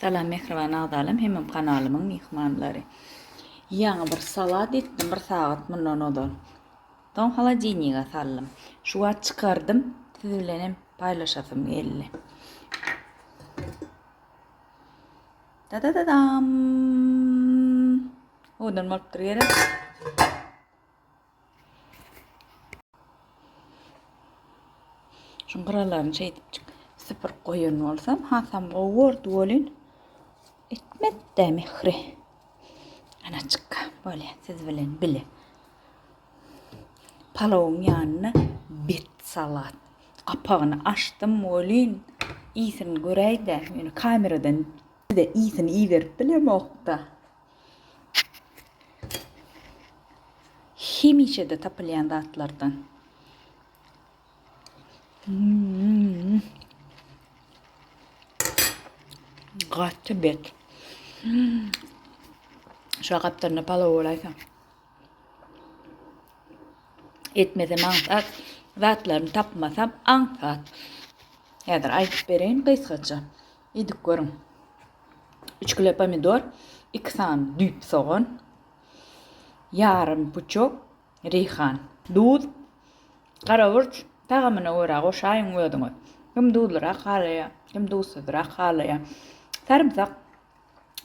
Salam mähriban agzalam hemem kanalymyň myhmanlary. Ýaňy bir salat etdim bir sagat mundan ozal. Soň holodilnige saldym. Şu wagt çykardym, siz bilen hem paýlaşasym geldi. Da da da dam. Odan bolup dur gerek. Şu gyralaryny şeýdip süpürip goýan bolsam, hasam gowy bordy welin etmedi-de Mehri. Anaçykka, bolýa, siz bilen bile. Palawyň ýanyna bet salat. Gapagyny açdym welin, ýesini göräý-de, ýöne kameradan bir-de ýesini iýerip bilemok-da. Hemişede tapylýan zatlardan. Hmm. Gaty bet. Hmm. Şu gaptyrna palaw bolaýsa. Etmese maňsat zatlaryny tapmasam aňsat. Häzir aýdyp bereýin gysgaça. Idip görüň. Üç kilo pomidor, iki sany düýp sogan, ýarym puçok reýhan, duz, garaburç tagamyna görä goşaýyň özüňiz. Kim duzlyrak halaýar, kim duzsyzrak halaýar. Sarymsak,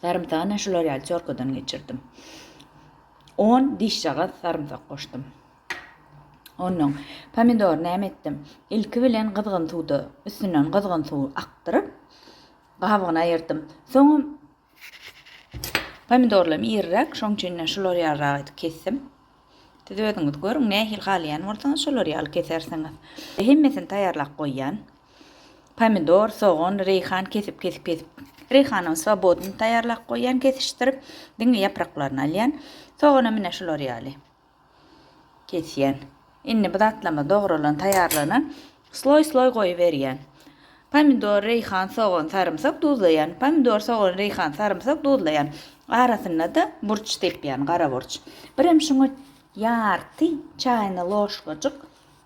sarymsagy men şular ýaly çorkadan geçirdim. On dişjagaz sarymsak goşdum. Onnoň, pomidory näme etdim? Ilki bilen gyzgyn suwda, üstünden gyzgyn suw akdyryp, gabygyny aýyrdym. Soňam pomidorlarym iriräk, şoň üçin-de şulary ýalyrak edip kesdim. Siz özüňiz görüň, nähili halaýan bolsaňyz, şolary ýaly kesersiňiz. Hemmesini taýýarlap goýýan. Pomidor, sogan, reýhan kesip, kesip, kesip. Reýhanam swobodnyny taýýarlap goýýan, kesişdirip, diňe ýapraklaryny alýan. Soganam ine şular ýaly. Kesýän. Indi bu zatlama dogralan taýýarlygyna sloý sloý goýuberýän. Pomidor, reýhan, sogan, sarymsak duzlaýan. Pomidor, sogan, reýhan, sarymsak duzlaýan. Arasynda-da burç sepýän, gara burç. Birem şuňa ýarty çaýna loşkajyk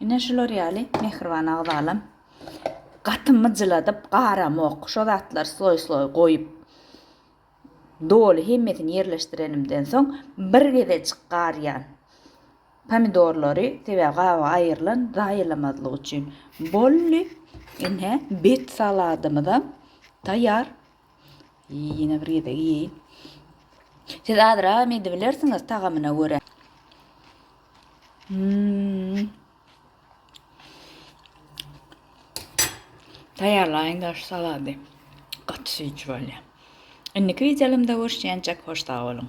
Ine şular ýaly mähriban agzalam gaty myjyladyp garamok şo zatlary sloý sloý goýup doly hemmesini ýerleşdirenimden soň bir gezejik garýan pomidorlary sebäbi gaby aýrylan zaýalamazlyk üçin bolly ine bet saladymyzam taýýar Ýene bir gezek iýeýin. Siz azragam edibilersiňiz tagamyna görä. Hmm. Taýýarlaýyň daş salady. Gaty süýji bolýar. Indiki videolarymda görüşýänçek hoş sag boluň.